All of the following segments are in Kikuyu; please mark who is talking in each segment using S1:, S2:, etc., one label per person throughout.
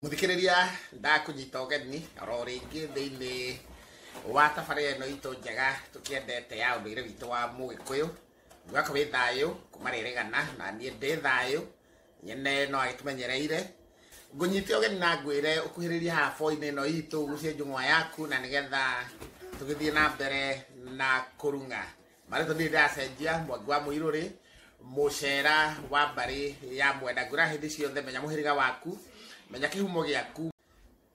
S1: muthikiriria ndakunyita ũgeni oro rĩngĩ thĩinĩ wa tabarĩra ĩno itũ njega tũkĩendete ya ũndũire witũ wa mũgĩkũyũ mwaka wĩ thayũ kuma rĩrĩgana na niĩ ndĩ thayũ nyene no agĩtũmenyereire ngũnyite ũgeni na ngwĩre ũkuhĩrĩrie haha boinĩ ĩno itũ ũgucie njũng'wa yaku na nĩgetha tũgĩthiĩ na mbere na kũrung'a marĩtwa ndirĩ ndacenjia mwangi wa mũirũrĩ mũcera wa mbarĩ ya mwenda ngwĩra hĩndĩ ciothe menya mũhĩrĩga waku menya kĩhumo gĩaku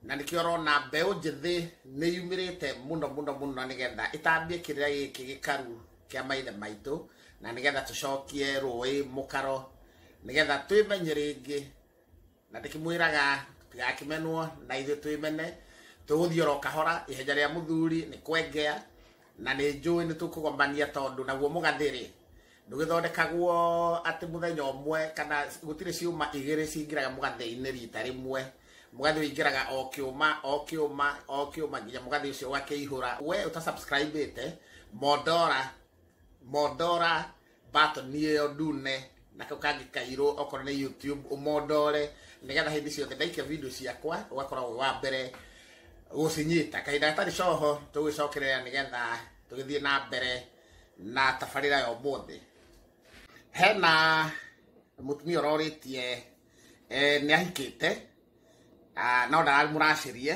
S1: na nĩkĩo ũrona mbeũ njĩthĩ nĩ yumĩrĩte mũno mũno mũno nĩgetha ĩtambie kĩrĩa gĩkĩ gĩkaru kĩa maithe maitũ na nĩgetha tũcokie rũĩ mũkaro nĩgetha twĩmenye rĩngĩ na ndĩkĩmwĩraga tigakĩmenwo na ithuĩ twĩmene tũgũthiĩ oro kahora ihenja rĩa mũthuri nĩ kwengea na nĩ njũĩ nĩ tũkũgomania tondũ naguo mũgathĩrĩ ndũgĩthondekagwo atĩ mũthenya ũmwe kana gũtirĩ ciũma igĩrĩ cingĩraga mũgathĩ-inĩ rita rĩmwe mũgathĩ ũingĩraga o kĩũma o kĩũma o kĩũma nginya mũgathĩ ũcio ũgakĩihũra we ũta subscribe ĩte mondora mondora batoni ĩyo ndune na kau kangĩ kairũ okorwo nĩ youtube ũmondore nĩgetha hĩndĩ ciothe ndaikia video ciakwa ũgakorwo wĩ wa mbere gũcinyita kahinda gatarĩ coho tũgĩcokerera nĩgetha tũgĩthiĩ na mbere na tabarĩra ya ũmũthĩ hena mũtumia ũrorĩtie eh, nĩ ahikĩte ah, no ndararĩ mũracĩrie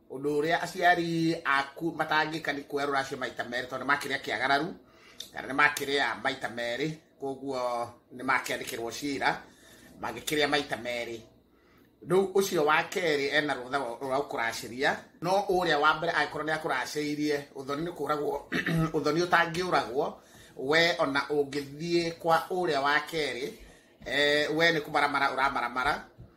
S1: Ũndũ ũrĩa aciari aku matangĩka nĩ kuoya rũracio maita merĩ tondũ nĩ makĩrĩa kĩagararu kana nĩ makĩrĩa maita merĩ koguo nĩ makĩandĩkĩrwo cira mangĩkĩrĩa maita merĩ rĩu ũcio wa kerĩ ena rũtha rwa gũkũracĩria no ũrĩa wa mbere angĩkorwo nĩ akũracĩirie ũthoni nĩ kũragwo ũthoni ũtangĩũragwo we ona ũngĩthiĩ kwa ũrĩa wa kerĩ eh, we nĩ kũmaramara ũramaramara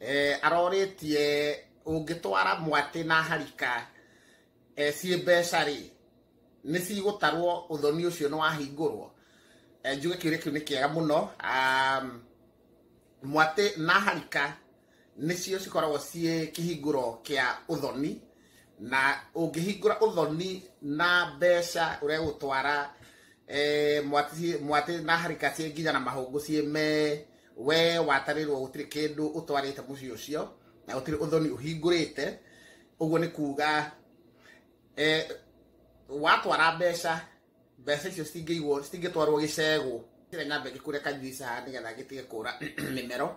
S1: eh, aroretie ũngĩtwara mwatĩ na harika eh, ciĩ mbeca rĩ nĩ cigũtarwo ũthoni ũcio nĩ wahingũrwo eh, njuge kĩũria kĩu nĩ kĩega mũno um, mwatĩ na harika nĩcio cikoragwo ciĩ kĩhingũro kĩa ũthoni na ũngĩhingũra ũthoni na mbeca ũrĩa gũtwara eh, mwatĩ mwatĩ na harika ciĩ nginya na mahũngũ ciĩ me we watarirwo gutiri kindu utwarite mucii ucio na gutiri uthoni uhingurite uguo ni kuga eh, watwara mbeca mbeca icio citingĩigwo citingĩtwarwo gĩcegũ kĩrĩa nyambe ngĩkure kanjuica haha nĩgetha ngĩtige kũra mĩmero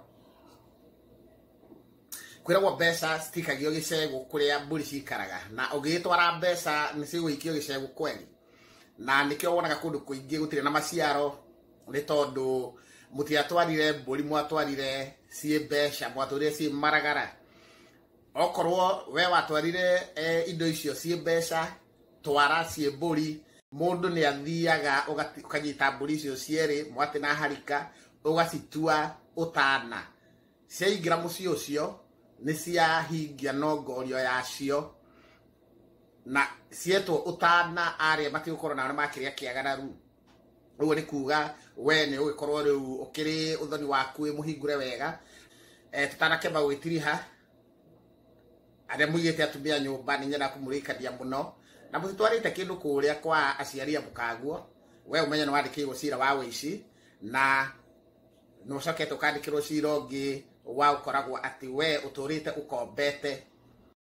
S1: kwĩragwo mbeca citikagio gĩcegũ kũrĩa mbũri cikaraga na ũngĩgĩtwara mbeca nĩ cigũikio gĩcegũ kweli na nĩkĩo wonaga kũndũ kũingĩ gũtirĩ na maciaro nĩ tondũ mũtiatwarire mbũri mwatwarire ciĩ mbeca mwatwarire ciĩ maragara okorwo we watwarire eh, indo icio ciĩ mbeca twara ciĩ mbũri mũndũ nĩ athiaga ũgati- ũkanyita mbũri icio cierĩ mwatĩ na harika ũgacitua ũtana ciaingĩra mũciĩ ũcio nĩ ciahingia nongorio yacio na cietwo ũtana arĩa matigũkorwo na arĩa makĩrĩa kĩagararu ũguo nĩ kuga we nĩ ũgĩkorwo rĩu ũkĩrĩ ũthoni waku wĩ mũhingũre wega eh, tũtanakĩamba gwĩtiriha arĩa mũigĩte atumia nyũmba nĩ nyenda kũmũrĩkania mũno na mũtitwarĩte kĩndũ kũrĩa kwa aciari a mũkaguo we ũmenye nĩ wandĩkĩirwo cira wa wĩici na nĩ ũcokete ũkandĩkĩrwo cira ũngĩ wa ũkoragwo atĩ we ũtũrĩte ũkombete